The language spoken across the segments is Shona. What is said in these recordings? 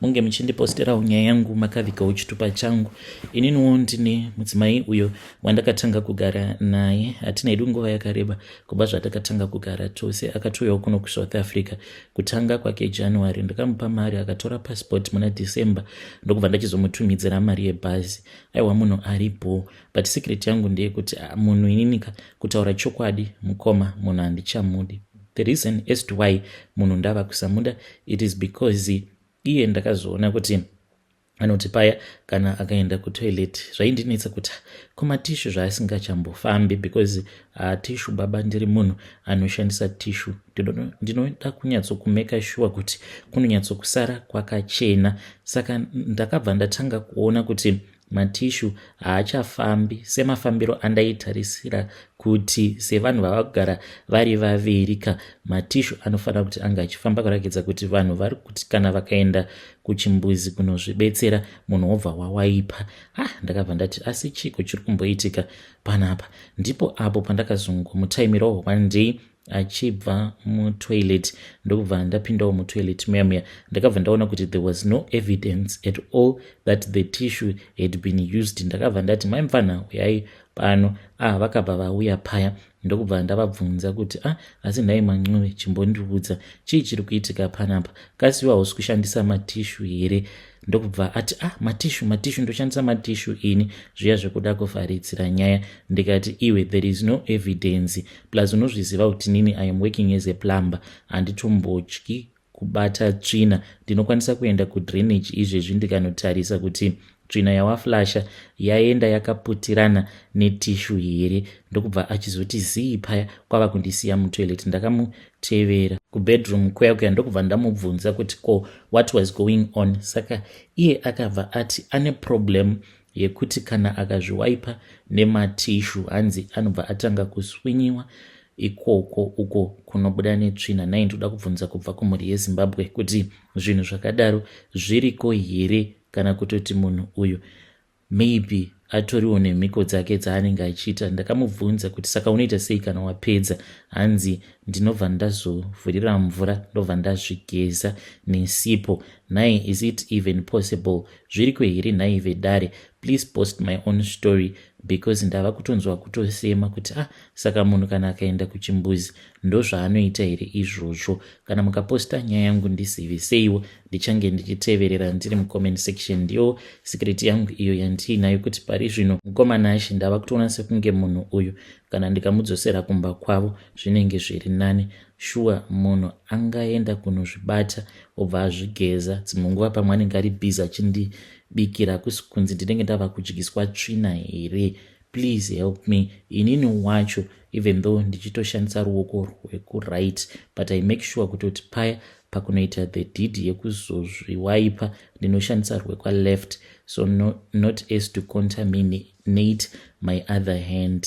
munge muchindiposterawo nyaya yangu makavikawo chitupa changu ininiwo ndine mudzimai uyo wandakatanga kugara naye hatina hedu nguva yakareba kubva zvatakatanga kugara tose akatouyawo kuno kusouth africa kutanga kwake january ndakamupa mari akatora passport muna december ndokubva ndachizomutumidzira mari yebhazi aiwa munhu ari bho but secret yangu ndeyekuti ah, munhu ininika kutaura chokwadi mukoma munhu handichamudi The reason as to why munhu ndava kusamuda it is because iye ndakazoona kuti anoti paya kana akaenda kutoilet zvaindinetsa kuti kumatishu zvaasingachambofambi because hatishu uh, baba ndiri munhu anoshandisa tishu ndinoda kunyatsokumeka shuwa kuti kunonyatsokusara kwakachena saka ndakabva ndatanga kuona kuti Matishu haachafambi semafambiro andaitarisira kuti sevanhu vava kugara vari vaviri ka matishu anofanira kuti anga achifamba kurakidza kuti vanhu vari kuti kana vakaenda kuchimbuzi kunozvibetsera munhu wobva wawaipa ha ndakabva ndati asi chiko chiri kumboitika panapa ndipo apo pandakazongomutaimirawo wandei achibva mutoilet ndokubva ndapindawo mutoilet muya muya ndakabva ndaona kuti there was no evidence at all that the tissue had been used ndakabva ndati mai mfanha uyai pano ah vakabva vauya paya ndokubva ndavabvunza kuti ah asi nhai mancove chimbondiudza chii chiri kuitika panapa kasi iwe hausi kushandisa matishu here ndokubva ati ah matishu matishu ndoshandisa matishu ini zviya zvekuda kuvharidzira nyaya ndikati iwe there is no evidence plus unozviziva kuti nini i am working as a plumber handitombotyi kubata tsvina ndinokwanisa kuenda kudrainage izvezvi ndikanotarisa kuti tsvina yawaflasha yaenda yakaputirana netishu here ndokubva achizoti zii paya kwava kundisiya mutoilet ndakamutevera kubedroom kuya kuya ndokubva ndamubvunza kuti ko what was going on saka iye akabva ati ane problem yekuti kana akazviwaipa nematishu hanzi anobva atanga kuswinyiwa ikoko uko kunobuda netsvina nai ndoda kubvunza kubva kumhuri yezimbabwe kuti zvinhu zvakadaro zviriko here kana kutoti munhu uyu maybe atoriwo nemhiko dzake dzaanenge achiita ndakamubvunza kuti saka unoita sei kana wapedza hanzi ndinobva ndazovhurira mvura ndobva ndazvigeza nesipo nai is it even possible zviriko here nhai vedare please post my own story because ndava kutonzwa kutosema kuti ah saka munhu kana akaenda kuchimbuzi ndozvaanoita here izvozvo kana mukaposta nyaya yangu ndisiviseiwo ndichange ndichiteverera ndiri mucomment section ndiyo sikiriti yangu iyo yandiinayo kuti pari zvino mukoma nashe ndava kutoona sekunge munhu uyu kana ndikamudzosera kumba kwavo zvinenge zviri nani Sure munhu angaenda kunozvibata obva azvigeza dzimwe nguva pamwe anenge ari busy achindibikira hakusi kunzi ndinenge ndava kudyiswa tsvina here please help me inini wacho even though ndichitoshandisa ruoko rwekuright but i make sure kutoti paya pakunoita the deed yekuzozviwaipa ndinoshandisa rwekwaleft so no, not as to contaminate my other hand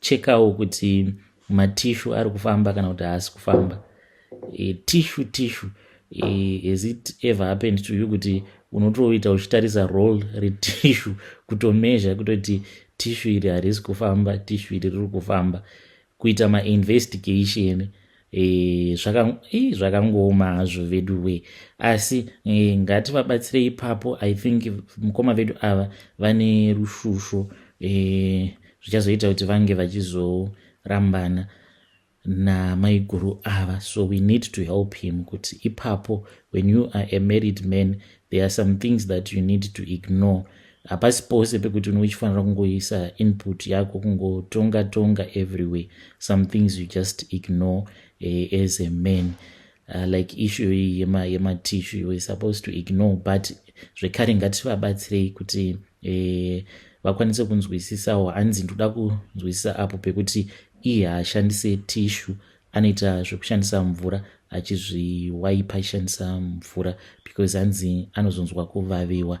chekawo kuti matishu ari kufamba kana kuti haasi kufamba e, tishu tishu e, has it ever happened to you kuti unotoita uchitarisa roll retishu kutomezha kutoti tishu iri harisi kufamba tishu iri riri kufamba kuita mainvestigation Eh, eh, zvakangooma hazvo vedu we asi eh, ngativabatsire ipapo i think mukoma vedu ava vane rushusho zvichazoita kuti vange vachizorambana namaiguru ava so we need to help him kuti ipapo when you are a married man there are some things that you need to ignore hapasi pose pekuti unenge uchifanira kungoisa input yako kungotonga tonga everywhere some things you just ignore uh, as a man uh, like issue iyi yema, yema tissue you were supposed to ignore but zvekare ngativabatsirei kuti uh, vakwanise kunzwisisawo hanzi ndoda kunzwisisa apo pekuti iye haashandise tissue anoita zvekushandisa mvura achizviwaipa achishandisa mvura because hanzi anozonzwa kuvaviwa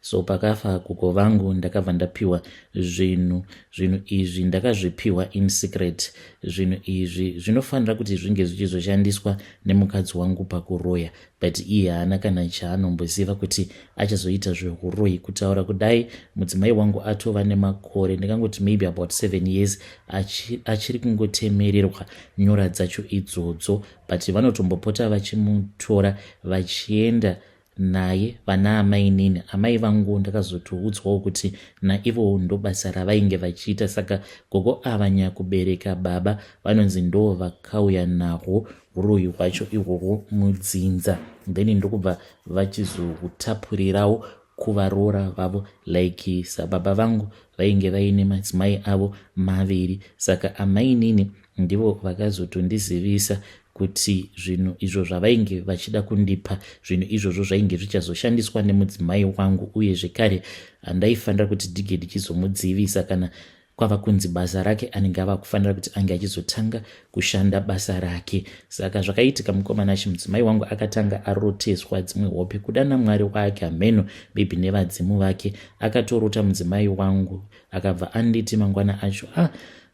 so pakafa kuko vangu ndakabva ndapiwa zvinhu zvinhu izvi ndakazvipiwa in secret zvinhu izvi zvinofanira kuti zvinge zvichizoshandiswa nemukadzi wangu pakuroya but iye haana kana chaanomboziva kuti achazoita zvehuroyi kutaura kudai mudzimai wangu atova nemakore ndikangoti maybe about seven years achiri kungotemererwa nyora dzacho idzodzo but vanotombopota vachimutora vachienda naye vana amainini amai vangu ndakazotoudzwawo kuti naivowo ndobasa ravainge vachiita saka gogo ava nyakubereka baba vanonzi ndoo vakauya nahwo uroyi hwacho ihwohwo mudzinza then ndokubva vachizohutapurirawo kuvaroora vavo like sababa vangu vainge vaine madzimai avo maviri saka amainini Ndivo vakazotondizivisa kuti zvinhu izvo zvavainge vachida kundipa zvinhu izvozvo zvainge zvichazoshandiswa nemudzimai wangu uye zvekare handaifanira kuti ndige ndichizomudzivisa kana kwava kunzi basa rake anenge ava kufanira kuti ange achizotanga kushanda basa rake saka zvakaitika mukomana achi mudzimai wangu akatanga aroteswa dzimwe hope kuda namwari wake hameno maybe nevadzimu vake akatorota mudzimai wangu akabva anditi mangwana acho ah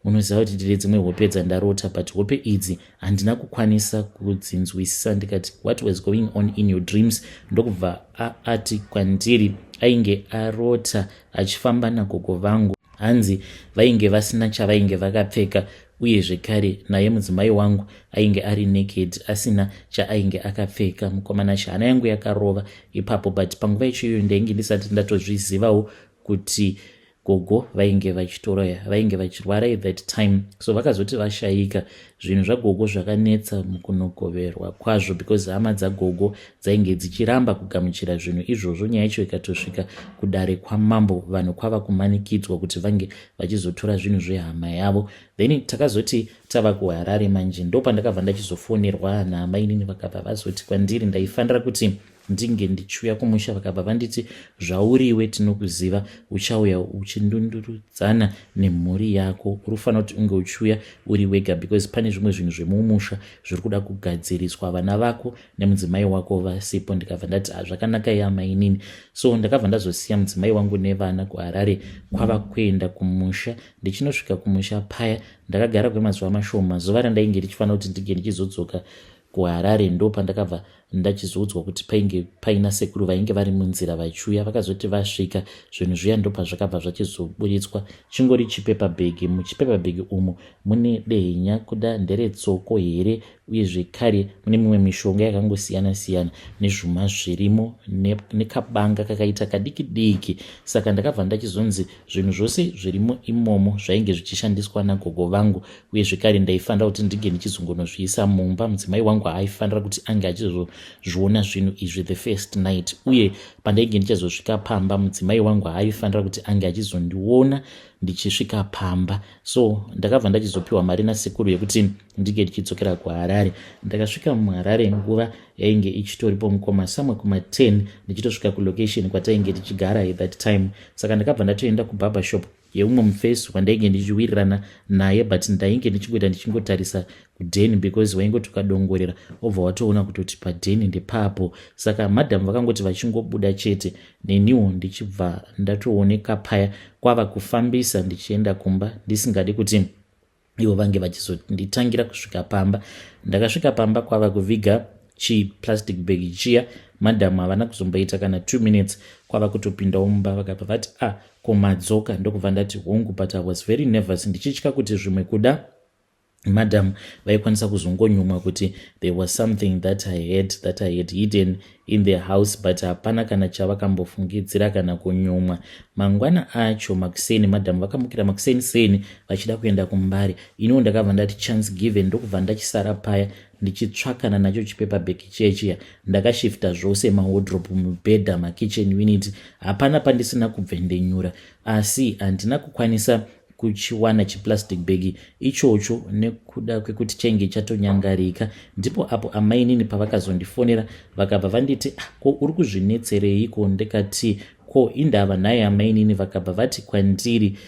unoziva kuti ndine dzimwe hope dzandarota but hope idzi handina kukwanisa kudzinzwisisa ndikati what was going on in your dreams ndokubva aati kwandiri ainge arota achifamba nagogo vangu hanzi vainge vasina chavainge vakapfeka uye zvekare naye mudzimai wangu ainge ari naked asina chaainge akapfeka mukomana chihana yangu yakarova ipapo but panguva ichoiyo ndainge ndisati ndatozvizivawo kuti gogo vainge vachitora vainge vachirwara at that time so vakazoti vashayika zvinhu zvagogo zvakanetsa mukunogoverwa kwazvo because hama dzagogo dzainge dzichiramba kugamuchira zvinhu izvozvo nyaya yacho ikatosvika kudare kwamambo vanhu kwava kumanikidzwa kuti vange vachizotora zvinhu zvehama yavo then takazoti tava kuharare manje ndopandakabva ndachizofonerwa naamainini vakabva vazoti kwandiri ndaifanira kuti ndinge ndichiuya kumusha vakabva vanditi zvauriwe tinokuziva uchauya uchindundurudzana nemhuri yako uri kufanira kuti unge uchiuya uri wega because pane zvimwe zvinhu zvemumusha zviri kuda kugadziriswa vana vako nemudzimai wako vasipo ndikabva ndati hazvakanaka ah, yamainini so ndakabva ndazosiya mudzimai wangu nevana kuharare kwava kuenda kumusha ndichinosvika kumusha paya ndakagara kwemazuva mashoma zuva randainge ndichifanira kuti ndinge ndichizodzoka kuharare ndopandakabva ndachizoudzwa kuti painge paina sekuru vainge vari munzira vachiuya vakazoti vasvika zvinhu zviya ndopazvakabva zvachizoburitswa chingori chipepa bhegi muchipepa bhegi umu mune dehenya kuda nderetsoko here uye zvekare mune mimwe mishonga yakangosiyana siyana nezvuma zvirimo nekabanga kakaita kadiki diki saka ndakabva ndachizonzi zvinhu zvose zvirimo imomo zvainge zvichishandiswa nagogo vangu uye zvekare ndaifanira kuti ndinge ndichizongonozviisa mumba mudzimai wangu haaifanira kuti ange achizozviona zvinhu izvi the first night uye pandainge ndichazosvika pamba mudzimai wangu haaifanira kuti ange achizondiona ndichisvika pamba so ndakabva ndachizopiwa mari nasekuru yekuti ndinge ndichidzokera kuharare ndakasvika muharare nguva yainge ichitoripo mukoma samwe kuma 10 ndichitosvika kulocation kwatainge tichigara at that time saka ndakabva ndatoenda kubarber shop yeumwe mufesi wandainge ndichiwirirana naye but ndainge ndichingoita ndichingotarisa kudeni because waingoti ukadongorera obva watoona kutoti padeni ndepapo saka madam vakangoti vachingobuda chete neniwo ndichibva ndatooneka paya kwava kufambisa ndichienda kumba ndisingadi kuti ivo vange vachizonditangira kusvika pamba ndakasvika pamba kwava kuviga chiplastic bag chiya madhamu havana kuzomboita kana two minutes kwava kutopindawo mumba vakabva vati a ah, komadzoka ndokubva ndati hongu but i was very nervous ndichitya kuti zvimwe kuda madam vaikwanisa kuzongonyumwa kuti there was something that i had that i had hidden in the house but hapana kana chavakambofungidzira kana kunyumwa mangwana acho makuseni madam vakamukira makuseni seni vachida kuenda kumbare iniwo ndakabva ndati chance given ndokubva ndachisara paya ndichitsvakana nacho chipepa bheki chiya chiya ndakashifta zvose mawodrop mubhedha makitchen unit hapana pandisina kubvendenyura asi handina kukwanisa kuchiwana chiplastic bag ichocho nekuda kwekuti chainge chatonyangarika ndipo apo amainini pavakazondifonera vakabva vanditi ah, ko uri kuzvinetsereiko ndikati ko indava nhai amainini vakabva vati kwandiri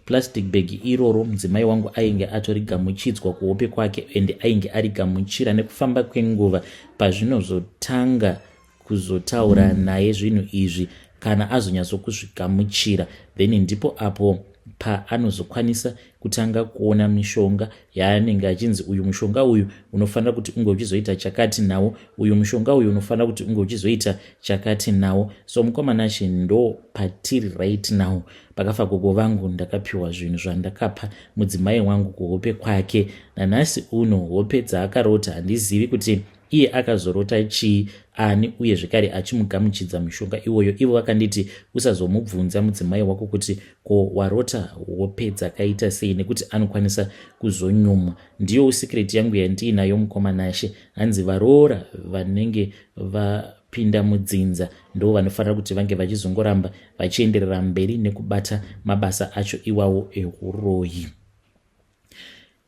plastic bag iroro mudzimai wangu ainge atorigamuchidzwa kuhope kwake and ainge arigamuchira nekufamba kwenguva pazvinozotanga kuzotaura naye zvinhu izvi kana azonyatsokuzvigamuchira then ndipo apo paanozokwanisa kutanga kuona mishonga yaanenge achinzi uyu mushonga uyu unofanira kuti unge uchizoita chakati nawo uyu mushonga uyu unofanira kuti unge uchizoita chakati nawo so mukomanashe ndo patiri right now pakafa gogo vangu ndakapiwa zvinhu zvandakapa mudzimai wangu kuhope kwake nanhasi uno hope dzaakarota handizivi kuti iye akazorota chii ani uye zvekare achimugamuchidza mushonga iwoyo ivo vakanditi usazomubvunza mudzimai wako kuti ko warota hope dzakaita sei nekuti anokwanisa kuzonyumwa ndiyo usikireti yangu yandiinayo mukoma nashe hanzi varoora vanenge va pinda mudzinza ndo vanofanira kuti vange vachizongoramba vachienderera mberi nekubata mabasa acho iwawo ehuroyi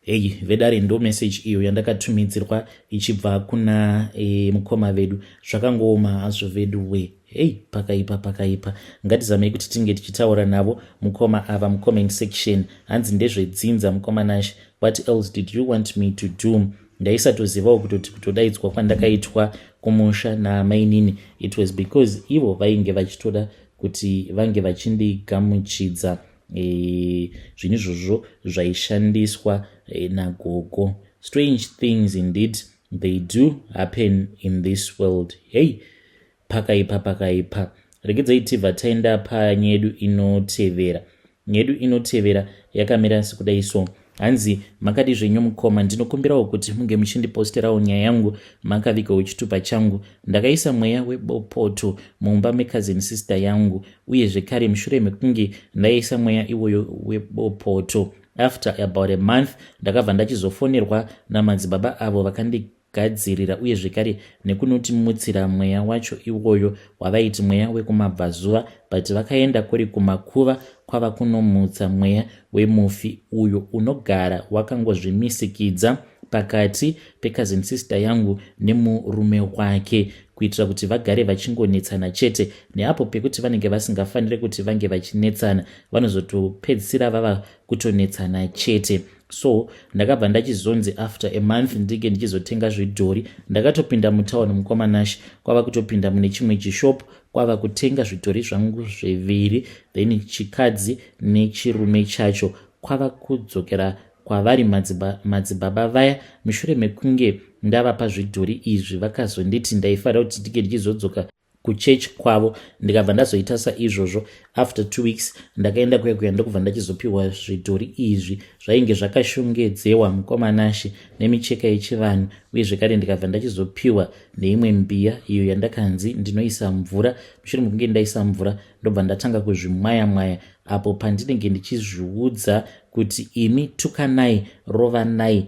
heyi vedare ndo message iyo yandakatumidzirwa ichibva kuna e, mukoma vedu zvakangooma hazvo vedu we heyi pakaipa pakaipa ngatizamei kuti tinge tichitaura navo mukoma ava mucomment section hanzi ndezvedzinza mukoma nashe what else did you want me to do ndaisatozivawo kutoti kutodaidzwa kwandakaitwa kumusha namainini it was because ivo vainge vachitoda kuti vange vachindigamuchidza e, zvinhu izvozvo zvaishandiswa e, nagogo strange things indeed they do happen in this world hei pakaipa pakaipa regedzai tibva taenda panyedu inotevera nyedu inotevera yakamira sekudai so hanzi makadi zvenyu mukoma ndinokumbirawo kuti munge muchindiposterawo nyaya yangu makavigawo chitupa changu ndakaisa mweya webopoto mumba mecousin sister yangu uye zvekare mushure mekunge ndaisa mweya iwoyo webopoto after about a month ndakabva ndachizofonerwa namadzibaba avo vakandi gadzirira uye zvekare nekunoti mutsira mweya wacho iwoyo wavaiti mweya wekumabvazuva but vakaenda kuri kumakuva kwava kunomutsa mweya wemufi uyo unogara wakangozvimisikidza pakati pecousin sister yangu nemurume wake kuitira kuti vagare vachingonetsana chete neapo pekuti vanenge vasingafanire kuti vange vachinetsana vanozotopedzisira vava kutonetsana chete so ndakabva ndachizonzi after a month ndinge ndichizotenga zvidhori ndakatopinda mutown mukoma nash kwava kutopinda mune chimwe chishop kwava kutenga zvidhori zvangu zviviri then chikadzi nechirume chacho kwava kudzokera kwavari madzibaba vaya mushure mekunge ndavapa zvidhori izvi vakazonditi ndaifanira kuti ndinge ndichizodzoka kuchurch kwavo ndikabva ndazoita saizvozvo after two weeks ndakaenda kuya kuya ndokubva ndachizopiwa zvidhori izvi zvainge zvakashongedzewa mukomanashe nemicheka yechivanhu uye zvekare ndikabva ndachizopiwa neimwe mbiya iyo yandakanzi ndinoisa mvura mushure mekunge ndaisa mvura ndobva ndatanga kuzvimwaya mwaya apo pandinenge ndichizviudza kuti imi tukanai rovanai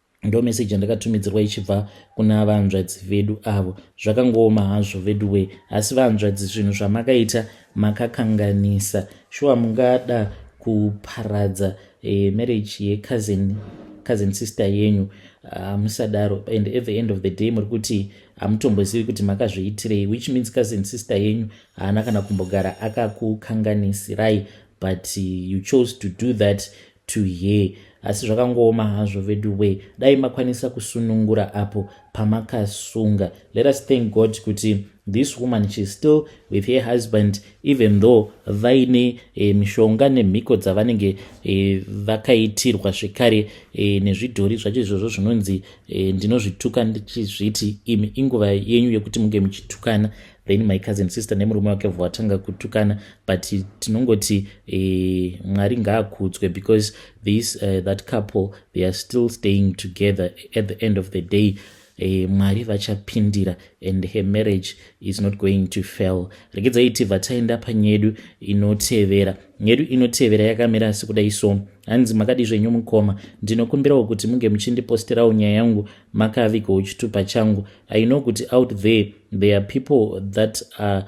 ndo message yandakatumidzirwa ichibva kuna vahanzvadzi vedu avo zvakangooma hazvo vedu wee asi vahanzvadzi zvinhu zvamakaita makakanganisa shuwa mungada kuparadza eh, marriage yecousin cousin sister yenyu hamusadaro uh, and at the end of the day muri kuti hamutombozivi kuti makazviitirei which means cousin sister yenyu haana kana kumbogara akakukanganisirai but you chose to do that to hear asi zvakangooma hazvo veduwee dai makwanisa kusunungura apo pamakasunga let us thank god kuti this woman sheis still with her husband even though vaine e, mishonga nemhiko dzavanenge e, vakaitirwa zvekare e, nezvidhori zvacho izvozvo zvinonzi e, ndinozvituka ndichizviti imi inguva yenyu yekuti munge muchitukana then my cousin sister nemurume wake bva vatanga kutukana but tinongoti eh, mwari ngaakudzwe because this uh, that couple they are still staying together at the end of the day eh, mwari vachapindira and her marriage is not going to fail rekedza iti vataenda panyedu inotevera nyedu inotevera yakamira asi kudai so hanzi makadizvenyu mukoma ndinokumbirawo kuti munge muchindipostirawo nyaya yangu makaviko uchitupa changu i know kuti out there there are people that are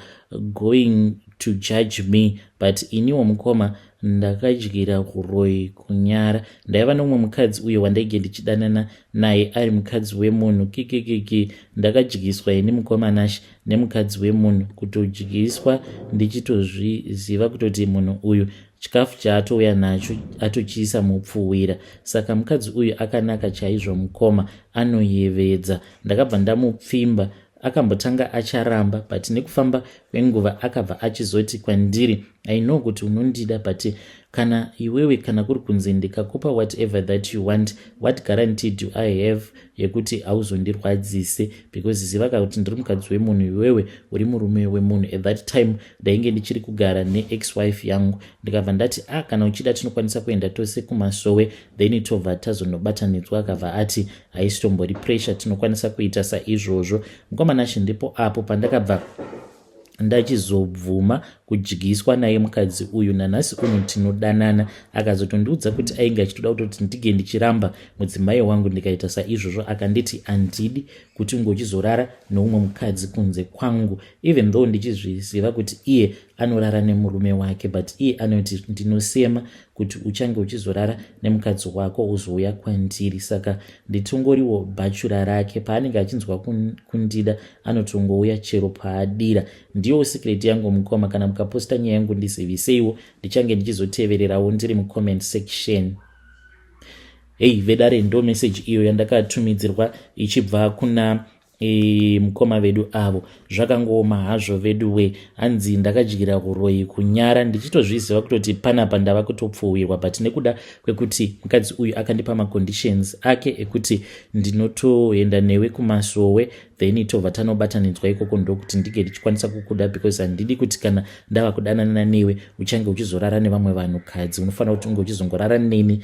going to judge me but iniwo mukoma ndakadyira kuroi kunyara ndaiva nomumwe mukadzi uyo wandaige ndichidanana naye ari mukadzi wemunhu kikikiki ndakadyiswa ini mukoma nash nemukadzi wemunhu kutodyiswa ndichitozviziva kutoti munhu uyu chikafu chaatouya nacho atochiisa mupfuhwira saka mukadzi uyu akanaka chaizvo mukoma anoyevedza ndakabva ndamupfimba akambotanga acharamba but nekufamba kwenguva akabva achizoti kwandiri i know kuti unondida but kana iwewe kana kuri kunzi ndikakupa whatever that you want what guarantee do i have yekuti hauzondirwadzise because zivaka kuti ndiri mukadzi wemunhu iwewe uri murume wemunhu at that time ndainge ndichiri kugara neex wife yangu ndikabva ndati a ah, kana uchida tinokwanisa kuenda tose kumasowe then tobva tazonobatanidzwa akabva ati haisitombori pressure tinokwanisa kuita saizvozvo mukomanashe ndipo apo pandakabva ndachizobvuma kudyiswa naye mukadzi uyu nanhasi uno tinodanana akazotondiudza kuti ainge achitoda kutoti ndige ndichiramba mudzimai wangu ndikaita saizvozvo akanditi handidi kuti unge uchizorara noumwe mukadzi kunze kwangu even though ndichizviziva kuti iye anorara nemurume wake but iye anoti ndinosema kuti uchange uchizorara nemukadzi wako uzouya kwandiri saka nditongoriwo bhachura rake paanenge achinzwa kundida anotongouya chero paadira ndiyowo secret yangu mukoma kana mukaposta nyaya yangu ndiziviseiwo ndichange ndichizotevererawo ndiri mucomment section Hey vedare ndo message iyo yandakatumidzirwa ichibva kuna e, mukoma vedu avo zvakangooma hazvo vedu we hanzi ndakadyira huroyi kunyara ndichitozviziva kutoti panapa ndava kutopfuhwirwa but nekuda kwekuti mukadzi uyu akandipa maconditions ake ekuti ndinotoenda newe kumasowe then tobva tanobatanidzwa ikoko ndokuti ndinge ndichikwanisa kukuda because handidi kuti kana ndava kudananana newe uchange uchizorara nevamwe vanhukadzi unofanira kuti unge uchizongorara neni